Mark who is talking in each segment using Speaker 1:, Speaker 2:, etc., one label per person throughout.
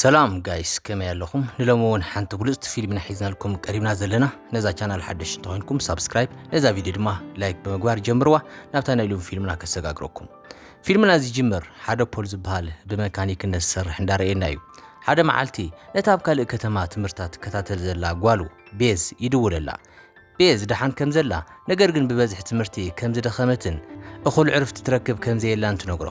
Speaker 1: ሰላም ጋይስ ከመይ ኣለኹም ንሎሚ እውን ሓንቲ ብሉፅቲ ፊልም ኢና ሒዝናልኩም ቀሪብና ዘለና ነዛ ቻናል ሓደሽ እንተኾይንኩም ሳብስክራይብ ነዛ ቪድዮ ድማ ላይክ ብምግባር ጀምርዋ ናብታ ናይ ሎሚ ፊልምና ከሰጋግረኩም ፊልምና ዝጅምር ሓደ ፖል ዝበሃል ብመካኒክነት ዝሰርሕ እንዳረእየና እዩ ሓደ መዓልቲ ነታ ኣብ ካልእ ከተማ ትምህርታ ትከታተል ዘላ ጓሉ ቤዝ ይድውለላ ቤዝ ደሓን ከም ዘላ ነገር ግን ብበዝሒ ትምህርቲ ከም ዝደኸመትን እኹል ዕርፍቲ ትረክብ ከም ዘየላን ትነግሮ።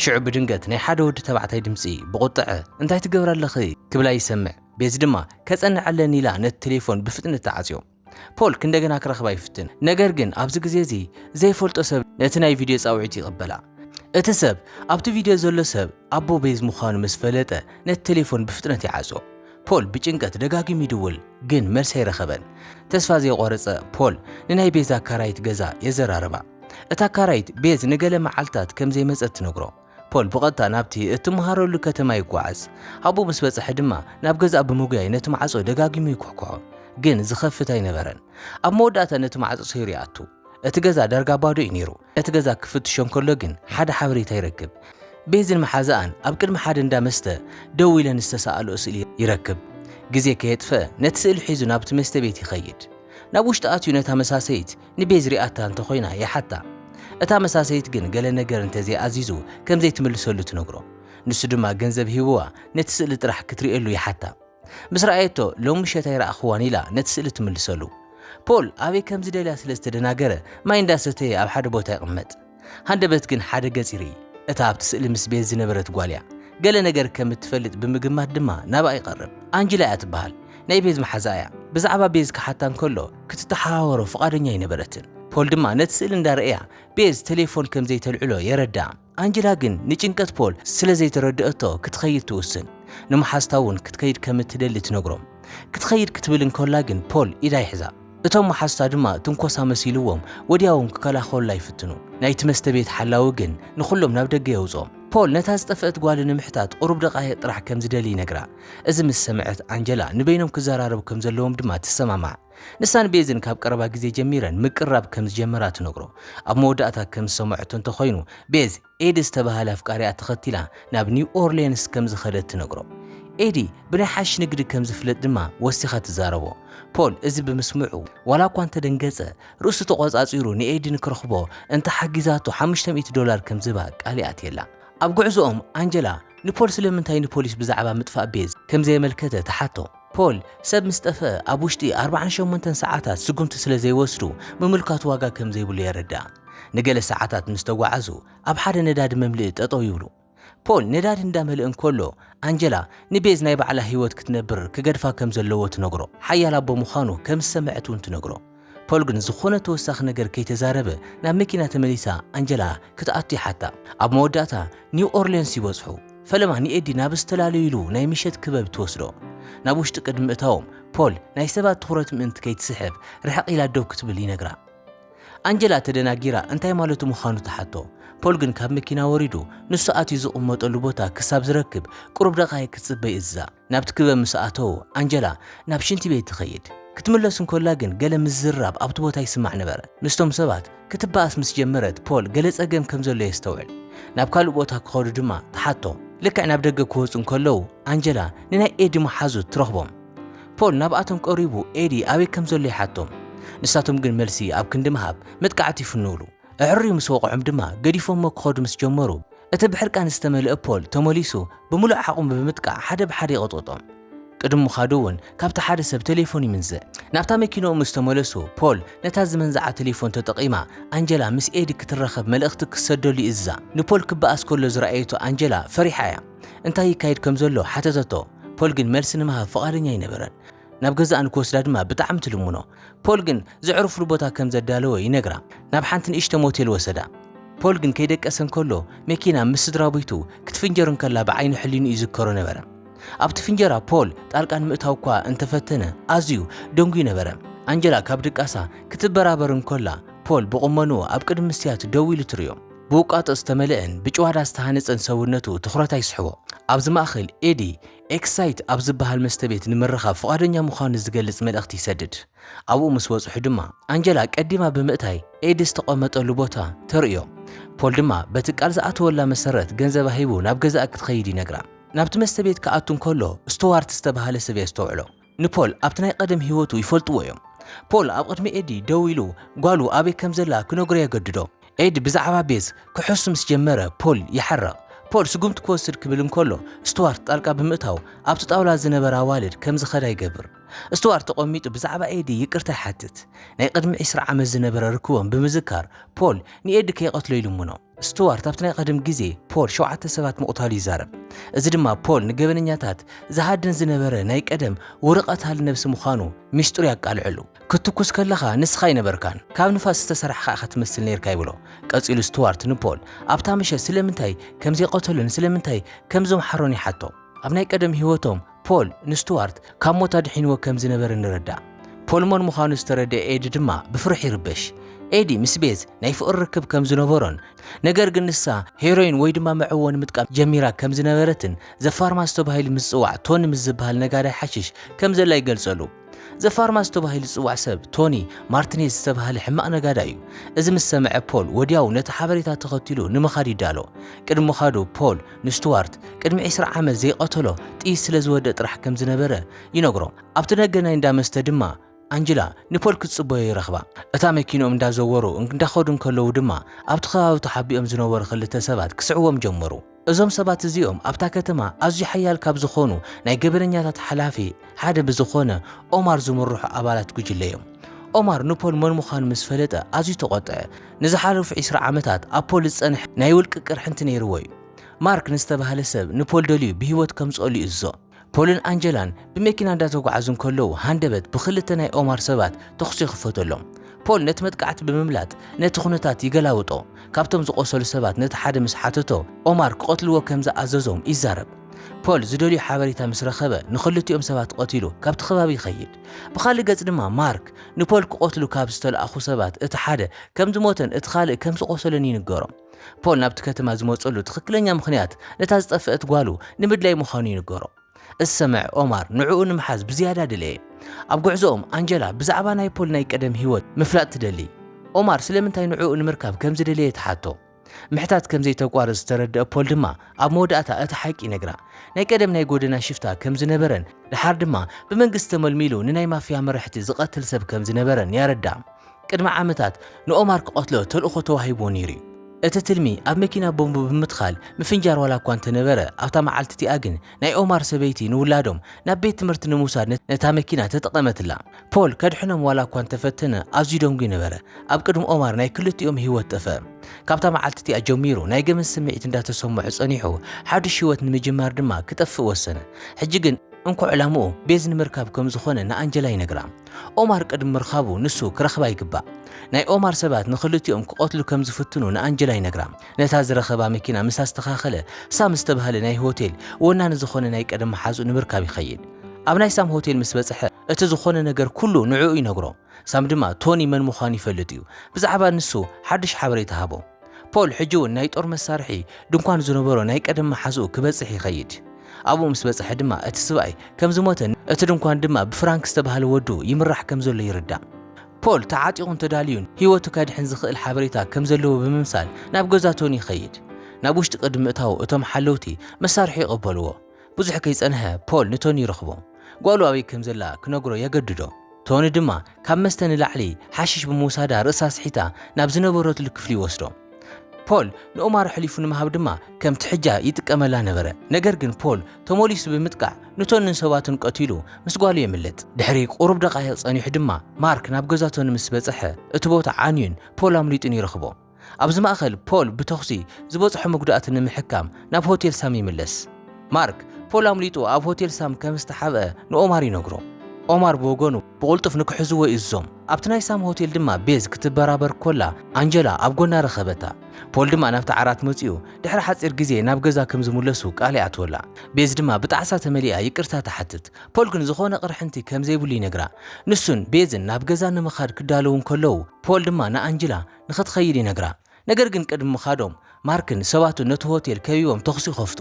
Speaker 1: ሽዑ ብድንገት ናይ ሓደ ወዲ ተባዕታይ ድምጺ ብቑጥዐ እንታይ ትገብሪ ኣለኺ ክብላ ይሰምዕ። ቤዝ ድማ ከጸንዕ ኣለኒ ኢላ ነቲ ቴሌፎን ብፍጥነት ትዓጽዮ። ፖል ክንደገና ክረኽባ ይፍትን፣ ነገር ግን ኣብዚ ግዜ እዚ ዘይፈልጦ ሰብ ነቲ ናይ ቪድዮ ጻውዒት ይቕበላ። እቲ ሰብ ኣብቲ ቪድዮ ዘሎ ሰብ ኣቦ ቤዝ ምዃኑ ምስ ፈለጠ ነቲ ቴሌፎን ብፍጥነት ይዓጾ። ፖል ብጭንቀት ደጋጊሙ ይድውል ግን መልሲ ኣይረኸበን። ተስፋ ዘይቖረጸ ፖል ንናይ ቤዝ ኣካራይት ገዛ የዘራርባ። እታ ኣካራይት ቤዝ ንገለ መዓልታት ከም ዘይመጸት ትነግሮ። ፖል ብቐጥታ ናብቲ እትመሃረሉ ከተማ ይጓዓዝ። ኣብኡ ምስ በጽሐ ድማ ናብ ገዛኣ ብምጉያይ ነቲ ማዕጾ ደጋጊሙ ይኩሕኩሖ። ግን ዝኸፍት ኣይነበረን። ኣብ መወዳእታ ነቲ ማዕጾ ሰይሩ ይኣቱ። እቲ ገዛ ዳርጋ ባዶ እዩ ነይሩ። እቲ ገዛ ክፍትሾ እንከሎ ግን ሓደ ሓበሬታ ይረክብ። ቤዝን መሓዛኣን ኣብ ቅድሚ ሓደ እንዳ መስተ ደው ኢለን ዝተሰኣልኦ ስእሊ ይረክብ። ግዜ ከየጥፈኣ ነቲ ስእሊ ሒዙ ናብቲ መስተ ቤት ይኸይድ። ናብ ውሽጢ ኣትዩ ነታ መሳሰይት ንቤዝ ሪኣታ እንተኾይና ይሓታ። እታ መሳሰይት ግን ገለ ነገር እንተዘይኣዚዙ ከምዘይትምልሰሉ ትነግሮ። ንሱ ድማ ገንዘብ ሂቡዋ ነቲ ስእሊ ጥራሕ ክትርእየሉ ይሓታ። ምስ ረኣየቶ ሎሚ ምሸት ኣይረኣኽዋን ኢላ ነቲ ስእሊ ትምልሰሉ። ፖል ኣበይ ከም ዝደልያ ስለ ዝተደናገረ ማይ እንዳሰተየ ኣብ ሓደ ቦታ ይቕመጥ። ሃንደበት ግን ሓደ ገጽ ይርኢ። እታ ኣብቲ ስእሊ ምስ ቤዝ ዝነበረት ጓል'ያ። ገለ ነገር ከም እትፈልጥ ብምግማት ድማ ናብኣ ይቐርብ። ኣንጅላ'ያ ትበሃል። ናይ ቤዝ መሓዛ'ያ። ብዛዕባ ቤዝ ክሓታ እንከሎ ክትተሓባበሮ ፍቓደኛ ኣይነበረትን። ፖል ድማ ነቲ ስእሊ እንዳረኣያ ቤዝ ተሌፎን ከም ዘይተልዕሎ የረድኣ። ኣንጀላ ግን ንጭንቀት ፖል ስለ ዘይተረድኣቶ ክትኸይድ ትውስን። ንመሓዝታ እውን ክትከይድ ከም እትደሊ ትነግሮም። ክትኸይድ ክትብል እንከላ ግን ፖል ኢዳ ይሕዛ። እቶም መሓዙታ ድማ ትንኮሳ መሲልዎም ወዲያውም ክከላኸሉላ ይፍትኑ። ናይቲ መስተ ቤት ሓላዊ ግን ንኹሎም ናብ ደገ የውጽኦም። ፖል ነታ ዝጠፍአት ጓሉ ንምሕታት ቁሩብ ደቓይቕ ጥራሕ ከም ዝደሊ ይነግራ። እዚ ምስ ሰምዐት ኣንጀላ ንበይኖም ክዘራረቡ ከም ዘለዎም ድማ ትሰማማዕ። ንሳን ቤዝን ካብ ቀረባ ግዜ ጀሚረን ምቅርራብ ከም ዝጀመራ ትነግሮ። ኣብ መወዳእታ ከም ዝሰምዐቶ እንተዀይኑ፣ ቤዝ ኤዲ ዝተበሃለ ኣፍቃሪኣ ተኸቲላ ናብ ኒው ኦርልየንስ ከም ዝኸደት ትነግሮ። ኤዲ ብናይ ሓሽሽ ንግዲ ከም ዝፍለጥ ድማ ወሲኻ ትዛረቦ። ፖል እዚ ብምስምዑ ዋላ እኳ እንተደንገጸ፣ ርእሱ ተቖጻጺሩ ንኤዲ ንክረኽቦ እንተ ሓጊዛቶ ሓሙሽተ ሚእቲ ዶላር ከም ዝህባ ቃል ይኣትየላ። ኣብ ጕዕዞኦም፣ ኣንጀላ ንፖል ስለምንታይ ንፖሊስ ብዛዕባ ምጥፋእ ቤዝ ከም ዘየመልከተ ትሓቶ። ፖል፣ ሰብ ምስ ጠፍኣ ኣብ ውሽጢ ኣርብዓን ሸሞንተን ሰዓታት ስጉምቲ ስለ ዘይወስዱ ምምልካቱ ዋጋ ከም ዘይብሉ የረድኣ። ንገለ ሰዓታት ምስ ተጓዓዙ ኣብ ሓደ ነዳዲ መምልኢ ጠጠው ይብሉ። ፖል ነዳዲ እንዳመልእ እንከሎ ኣንጀላ ንቤዝ ናይ ባዕላ ህይወት ክትነብር ክገድፋ ከም ዘለዎ ትነግሮ። ሓያል ኣቦ ምዃኑ ከም ዝሰምዐት እውን ትነግሮ። ፖል ግን ዝኾነ ተወሳኺ ነገር ከይተዛረበ ናብ መኪና ተመሊሳ ኣንጀላ ክትኣቱ ይሓታ። ኣብ መወዳእታ ኒው ኦርልየንስ ይበጽሑ። ፈለማ ንኤዲ ናብ ዝተላለዩሉ ናይ ምሸት ክበብ ትወስዶ። ናብ ውሽጢ ቅድሚ ምእታዎም ፖል ናይ ሰባት ትኹረት ምእንቲ ከይትስሕብ ርሕቕ ኢላ ደው ክትብል ይነግራ። ኣንጀላ ተደናጊራ እንታይ ማለቱ ምዃኑ ትሓቶ። ፖል ግን ካብ መኪና ወሪዱ ንሱ ኣትዩ ዝቕመጠሉ ቦታ ክሳብ ዝረክብ ቅሩብ ደቓይቕ ክትጽበ ይእዝዛ። ናብቲ ክበብ ምስ ኣተዉ፣ ኣንጀላ ናብ ሽንቲ ቤት ትኸይድ። ክትምለስ እንከላ ግን ገለ ምዝርራብ ኣብቲ ቦታ ይስማዕ ነበረ። ምስቶም ሰባት ክትበኣስ ምስ ጀመረት፣ ፖል ገለ ጸገም ከም ዘሎ የስተውዕል። ናብ ካልእ ቦታ ክኸዱ ድማ ትሓቶ። ልክዕ ናብ ደገ ክወጹ እንከለዉ፣ ኣንጀላ ንናይ ኤዲ መሓዙት ትረኽቦም። ፖል ናብኣቶም ቀሪቡ ኤዲ ኣበይ ከም ዘሎ ይሓቶም። ንሳቶም ግን መልሲ ኣብ ክንዲ ምሃብ መጥቃዕቲ ይፍንዉሉ። ኣዐርዩ ምስ ወቕዖም ድማ ገዲፎሞ ክኸዱ ምስ ጀመሩ፣ እቲ ብሕርቃን ዝተመልአ ፖል ተመሊሱ ብምሉእ ዓቕሙ ብምጥቃዕ ሓደ ብሓደ ይቕጥቕጦም። ቅድሚ ምኻዱ እውን ካብቲ ሓደ ሰብ ተሌፎን ይምንዝዕ። ናብታ መኪንኡ ምስ ተመለሱ፣ ፖል ነታ ዝመንዝዓ ተሌፎን ተጠቒማ ኣንጀላ ምስ ኤዲ ክትራኸብ መልእኽቲ ክትሰደሉ ይእዝዛ። ንፖል ክበኣስ ከሎ ዝረኣየቶ ኣንጀላ ፈሪሓ እያ። እንታይ ይካየድ ከም ዘሎ ሓተተቶ፣ ፖል ግን መልሲ ንምሃብ ፍቓደኛ ኣይነበረን። ናብ ገዛኣ ንክወስዳ ድማ ብጣዕሚ ትልምኖ። ፖል ግን ዘዕርፍሉ ቦታ ከም ዘዳለወ ይነግራ። ናብ ሓንቲ ንእሽቶ ሞቴል ወሰዳ። ፖል ግን ከይደቀሰ እንከሎ መኪና ምስ ስድራቤቱ ክትፍንጀር እንከላ ብዓይኒ ሕሊንኡ ይዝከሮ ነበረ። ኣብቲ ፍንጀራ ፖል ጣልቃ ንምእታው'ኳ እንተፈተነ ኣዝዩ ደንጉዩ ነበረ። ኣንጀላ ካብ ድቃሳ ክትበራበር እንከላ ፖል ብቁመንኡ ኣብ ቅድሚ መስትያት ደው ኢሉ ትርእዮ። ብውቃጦ ዝተመልአን ብጭዋዳ ዝተሃነጸን ሰውነቱ ትኹረት ኣይስሕቦ። ኣብዚ ማእከል ኤዲ ኤክሳይት ኣብ ዝበሃል መስተቤት ንምርኻብ ፍቓደኛ ምዃኑ ዝገልጽ መልእኽቲ ይሰድድ። ኣብኡ ምስ በጽሑ ድማ፣ ኣንጀላ ቀዲማ ብምእታይ ኤዲ ዝተቐመጠሉ ቦታ ተርእዮ። ፖል ድማ በቲ ቃል ዝኣተወላ መሰረት ገንዘባ ሂቡ ናብ ገዛኣ ክትኸይድ ይነግራ። ናብቲ መስተቤት ክኣቱ እንከሎ፣ ስቱዋርት ዝተበሃለ ሰብ የስተውዕሎ። ንፖል ኣብቲ ናይ ቀደም ህይወቱ ይፈልጥዎ እዮም። ፖል ኣብ ቅድሚ ኤዲ ደው ኢሉ ጓሉ ኣበይ ከም ዘላ ክነግሮ የገድዶ። ኤዲ ብዛዕባ ቤዝ ክሕሱ ምስ ጀመረ ፖል ይሓርቕ። ፖል ስጉምቲ ክወስድ ክብል እንከሎ ስቱዋርት ጣልቃ ብምእታው ኣብቲ ጣውላ ዝነበራ ኣዋልድ ከም ዝኸዳ ይገብር። ስቱዋርት ተቐሚጡ ብዛዕባ ኤዲ ይቅርታ ይሓትት። ናይ ቅድሚ ዕስራ ዓመት ዝነበረ ርክቦም ብምዝካር ፖል ንኤዲ ከይቐትሎ ይልምኖ። ስቱዋርት ኣብቲ ናይ ቐደም ግዜ ፖል ሸውዓተ ሰባት ምቕታሉ ይዛረብ፣ እዚ ድማ ፖል ንገበነኛታት ዝሃድን ዝነበረ ናይ ቀደም ውሩይ ቐታሊ ነብሲ ምዃኑ ሚስጢሩ ያቃልዐሉ። ክትትኩስ ከለኻ ንስኻ ኣይነበርካን፣ ካብ ንፋስ ዝተሰርሕኻ ኢኻ ትመስል ኔርካ ይብሎ። ቀጺሉ ስቱዋርት ንፖል ኣብታ ምሸት ስለምንታይ ከም ዘይቀተሎን ስለምንታይ ከም ዘምሓሮን ይሓቶ። ኣብ ናይ ቀደም ህይወቶም ፖል፣ ንስቱዋርት ካብ ሞት ኣድሒንዎ ከም ዝነበረ ንረዳእ። ፖል መን ምዃኑ ዝተረድኤ ኤዲ ድማ ብፍርሒ ይርበሽ። ኤዲ ምስ ቤዝ ናይ ፍቕሪ ርክብ ከም ዝነበሮን ነገር ግን ንሳ ሄሮይን ወይ ድማ መዕወኒ ምጥቃም ጀሚራ ከም ዝነበረትን ዘፋርማሲ ተባሂሉ ምስ ዝጽዋዕ ቶኒ ምስ ዝበሃል ነጋዳይ ሓሽሽ ከም ዘላ ይገልጸሉ። ዘ ፋርማሲ ተባሂሉ ዝጽዋዕ ሰብ ቶኒ ማርቲኔዝ ዝተባህለ ሕማቕ ነጋዳይ እዩ። እዚ ምስ ሰምዐ ፖል ወዲያው ነቲ ሓበሬታ ተኸቲሉ ንምኻድ ይዳሎ። ቅድሚ ምኻዱ ፖል ንስቱዋርት ቅድሚ ዕስራ ዓመት ዘይቐተሎ ጥይት ስለ ዝወድእ ጥራሕ ከም ዝነበረ ይነግሮ። ኣብቲ ደገ ናይ እንዳ መስተ ድማ ኣንጅላ ንፖል ክትጽበዮ ይረኽባ። እታ መኪንኦም እንዳዘወሩ እንዳኸዱ እንከለዉ ድማ ኣብቲ ከባቢ ተሓቢኦም ዝነበሩ ክልተ ሰባት ክስዕዎም ጀመሩ። እዞም ሰባት እዚኦም ኣብታ ከተማ ኣዝዩ ሓያል ካብ ዝኾኑ ናይ ገበነኛታት ሓላፊ ሓደ ብዝኾነ ኦማር ዝምርሑ ኣባላት ጉጅለ እዮም። ኦማር ንፖል መን ምዃኑ ምስ ፈለጠ ኣዝዩ ተቖጥዐ። ንዝሓለፉ ዕስራ ዓመታት ኣብ ፖል ዝጸንሐ ናይ ውልቂ ቅርሕንቲ ነይርዎ እዩ። ማርክ ንዝተባህለ ሰብ ንፖል ደልዩ ብህይወት ከምጽኦሉ ይእዝዞ። ፖልን ኣንጀላን ብመኪና እንዳተጓዓዙ እንከለዉ ሃንደበት ብኽልተ ናይ ኦማር ሰባት ተኹሲ ይኽፈተሎም። ፖል ነቲ መጥቃዕቲ ብምምላጥ ነቲ ኩነታት ይገላብጦ። ካብቶም ዝቖሰሉ ሰባት ነቲ ሓደ ምስ ሓተቶ፣ ኦማር ክቐትልዎ ከም ዝኣዘዞም ይዛረብ። ፖል ዝደልዮ ሓበሬታ ምስ ረኸበ ንኽልቲኦም ሰባት ቐቲሉ ካብቲ ከባቢ ይኸይድ። ብኻልእ ገጽ ድማ ማርክ ንፖል ክቐትሉ ካብ ዝተለኣኹ ሰባት እቲ ሓደ ከም ዝሞተን እቲ ካልእ ከም ዝቖሰለን ይንገሮ። ፖል ናብቲ ከተማ ዝመጸሉ ትኽክለኛ ምኽንያት ነታ ዝጠፍአት ጓሉ ንምድላይ ምዃኑ ይንገሮ። እሰምዕ ኦማር ንዕኡ ንምሓዝ ብዝያዳ ደለየ። ኣብ ጉዕዞኦም ኣንጀላ ብዛዕባ ናይ ፖል ናይ ቀደም ህይወት ምፍላጥ ትደሊ። ኦማር ስለምንታይ ንዕኡ ንምርካብ ከም ዝደለየ ትሓቶ። ምሕታት ከም ዘይተቋርጽ ዝተረድአ ፖል ድማ ኣብ መወዳእታ እቲ ሓቂ ይነግራ። ናይ ቀደም ናይ ጎደና ሽፍታ ከም ዝነበረን ድሓር ድማ ብመንግስቲ ተመልሚሉ ንናይ ማፍያ መራሕቲ ዝቐትል ሰብ ከም ዝነበረን ያረድኣ። ቅድሚ ዓመታት ንኦማር ክቐትሎ ተልእኾ ተዋሂብዎ ነይሩ እዩ። እቲ ትልሚ ኣብ መኪና ቦምብ ብምትካል ምፍንጃር ዋላ እኳ እንተነበረ፣ ኣብታ መዓልቲ እቲኣ ግን ናይ ኦማር ሰበይቲ ንውላዶም ናብ ቤት ትምህርቲ ንምውሳድ ነታ መኪና ተጠቐመትላ። ፖል ከድሕኖም ዋላ እኳ እንተፈተነ ኣዝዩ ደንጉዩ ነበረ። ኣብ ቅድሚ ኦማር ናይ ክልቲኦም ህይወት ጠፍአ። ካብታ መዓልቲ እቲኣ ጀሚሩ ናይ ገበን ስምዒት እንዳተሰምዖ ጸኒሑ፣ ሓዱሽ ህይወት ንምጅማር ድማ ክጠፍእ ወሰነ። ሕጂ ግን እንኮ ዕላምኡ ቤዝ ንምርካብ ከም ዝኾነ ንኣንጀላ ይነግራ። ኦማር ቅድሚ ምርኻቡ ንሱ ክረኽባ ይግባእ። ናይ ኦማር ሰባት ንኽልቲኦም ክቐትሉ ከም ዝፍትኑ ንኣንጀላ ይነግራ። ነታ ዝረኸባ መኪና ምስ ኣስተኻኸለ፣ ሳም ዝተባህለ ናይ ሆቴል ወናኒ ዝኾነ ናይ ቀደም መሓዝኡ ንምርካብ ይኸይድ። ኣብ ናይ ሳም ሆቴል ምስ በጽሐ፣ እቲ ዝኾነ ነገር ኩሉ ንዕኡ ይነግሮ። ሳም ድማ ቶኒ መን ምዃኑ ይፈልጥ እዩ። ብዛዕባ ንሱ ሓድሽ ሓበሬታ ሃቦ። ፖል ሕጂ እውን ናይ ጦር መሳርሒ ድንኳን ዝነበሮ ናይ ቀደም መሓዝኡ ክበጽሕ ይኸይድ። ኣብኡ ምስ በጽሐ ድማ እቲ ስብኣይ ከም ዝሞተን እቲ ድንኳን ድማ ብፍራንክ ዝተባህለ ወዱ ይምራሕ ከም ዘሎ ይርዳእ። ፖል ተዓጢቑን ተዳልዩን ህይወቱ ከድሕን ዝኽእል ሓበሬታ ከም ዘለዎ ብምምሳል ናብ ገዛ ቶኒ ይኸይድ። ናብ ውሽጢ ቅድሚ ምእታዉ እቶም ሓለውቲ መሳርሑ ይቕበልዎ። ብዙሕ ከይጸንሐ ፖል ንቶኒ ይረኽቦ። ጓሉ ኣበይ ከም ዘላ ክነግሮ የገድዶ። ቶኒ ድማ ካብ መስተ ንላዕሊ ሓሽሽ ብምውሳዳ ርእሳ ስሒታ ናብ ዝነበረትሉ ክፍሊ ይወስዶ። ፖል ንኦማር ኣሕሊፉ ንምሃብ ድማ ከም ትሕጃ ይጥቀመላ ነበረ። ነገር ግን ፖል ተሞሊሱ ብምጥቃዕ ንቶንን ሰባቱን ቀቲሉ ምስ ጓሉ የምልጥ። ድሕሪ ቁሩብ ደቓይቕ ጸኒሑ ድማ ማርክ ናብ ገዛ ቶኒ ምስ በጸሐ እቲ ቦታ ዓንዩን ፖል ኣምሊጡን ይረኽቦ። ኣብዚ ማእከል፣ ፖል ብተዅሲ ዝበጽሖ መጕዳእቲ ንምሕካም ናብ ሆቴል ሳም ይምለስ። ማርክ፣ ፖል ኣምሊጡ ኣብ ሆቴል ሳም ከም ዝተሓብአ ንኦማር ይነግሮ። ኦማር ብወገኑ፣ ብቕልጡፍ ንኽሕዝዎ ይእዝዞም። ኣብቲ ናይ ሳም ሆቴል ድማ ቤዝ ክትበራበር ኰላ ኣንጀላ ኣብ ጐና ረኸበታ። ፖል ድማ ናብቲ ዓራት መጺኡ ድሕሪ ሓጺር ግዜ ናብ ገዛ ከም ዝምለሱ ቃል ይኣትወላ። ቤዝ ድማ ብጣዕሳ ተመሊኣ ይቅርታ ትሓትት። ፖል ግን ዝዀነ ቅርሕንቲ ከም ዘይብሉ ይነግራ። ንሱን ቤዝን ናብ ገዛ ንምኻድ ክዳለዉ እንከለዉ፣ ፖል ድማ ንኣንጅላ፣ ንኽትኸይድ ይነግራ። ነገር ግን ቅድሚ ምኻዶም፣ ማርክን ሰባቱን ነቲ ሆቴል ከቢቦም ተዅሲ ይኸፍቱ።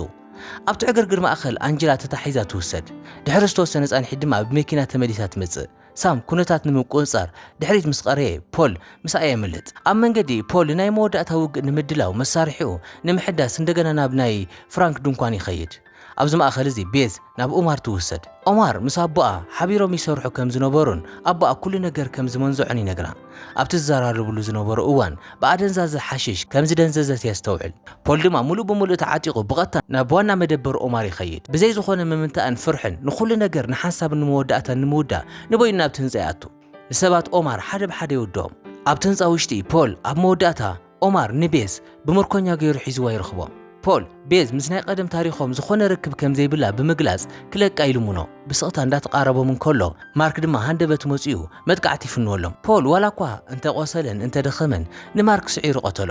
Speaker 1: ኣብቲ ዕግርግር ማእከል ኣንጀላ ተታሒዛ ትውሰድ። ድሕሪ ዝተወሰነ ጻንሒት ድማ ብመኪና ተመሊሳ ትመጽእ። ሳም ኵነታት ንምቍጽጻር ድሕሪት ምስ ቐረየ፣ ፖል ምስኣ የምልጥ። ኣብ መንገዲ፣ ፖል ንናይ መወዳእታ ውግእ ንምድላው መሳርሒኡ ንምሕዳስ እንደገና ናብ ናይ ፍራንክ ድንኳን ይኸይድ። ኣብዚ ማእከል እዚ ቤዝ ናብ ኦማር ትውሰድ። ኦማር ምስ ኣቦኣ ሓቢሮም ይሰርሑ ከም ዝነበሩን ኣቦኣ ኩሉ ነገር ከም ዝመንዘዖን ይነግራ። ኣብቲ ዝዘራረብሉ ዝነበሩ እዋን ብኣደንዛዘ ሓሽሽ ከም ዝደንዘዘት የስተውዕል። ፖል ድማ ምሉእ ብምሉእ ተዓጢቑ ብቐጥታ ናብ ዋና መደበር ኦማር ይኸይድ። ብዘይ ዝኾነ ምምንታእን ፍርሕን ንኹሉ ነገር ንሓንሳብን ንመወዳእታን ንምውዳእ ንበይኑ ናብቲ ህንጻ ይኣቱ። ንሰባት ኦማር ሓደ ብሓደ ይውድኦም። ኣብቲ ህንጻ ውሽጢ ፖል ኣብ መወዳእታ ኦማር ንቤዝ ብምርኮኛ ገይሩ ሒዝዋ ይረኽቦ። ፖል፣ ቤዝ ምስ ናይ ቐደም ታሪኾም ዝኾነ ርክብ ከም ዘይብላ ብምግላጽ ክለቃ ይልምኖ። ብስቕታ እንዳተቓረቦም እንከሎ፣ ማርክ ድማ ሃንደበት መጺኡ መጥቃዕቲ ይፍንወሎም። ፖል ዋላ እኳ እንተ ቖሰለን እንተ ደኸመን ንማርክ ስዒሩ ቐተሎ።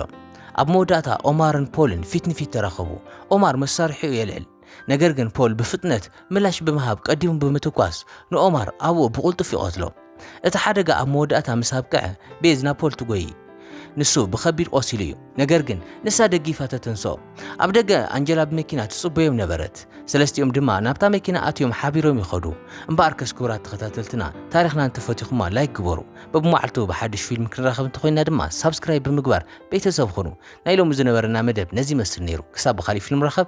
Speaker 1: ኣብ መወዳእታ ኦማርን ፖልን ፊት ንፊት ተራኸቡ። ኦማር መሳርሒኡ የልዕል። ነገር ግን ፖል ብፍጥነት ምላሽ ብምሃብ ቀዲሙ ብምትኳስ ንኦማር ኣብኡ ብቕልጡፍ ይቐትሎ። እቲ ሓደጋ ኣብ መወዳእታ ምስ ኣብቅዐ ቤዝ ናብ ፖል ትጎዪ። ንሱ ብኸቢድ ቆሲሉ እዩ፣ ነገር ግን ንሳ ደጊፋ ተተንስኦ። ኣብ ደገ ኣንጀላ ብመኪና ትጽበዮም ነበረት፣ ሰለስቲኦም ድማ ናብታ መኪና ኣትዮም ሓቢሮም ይኸዱ። እምበኣርከስ ክቡራት ተኸታተልትና ታሪኽና እንተፈቲኹማ ላይክ ግበሩ፣ በብመዓልቱ ብሓድሽ ፊልም ክንራኸብ እንተኾይንና ድማ ሳብስክራይብ ብምግባር ቤተሰብ ኹኑ። ናይ ሎሚ ዝነበረና መደብ ነዚ ይመስል ነይሩ፣ ክሳብ ብኻልእ ፊልም ንራኸብ።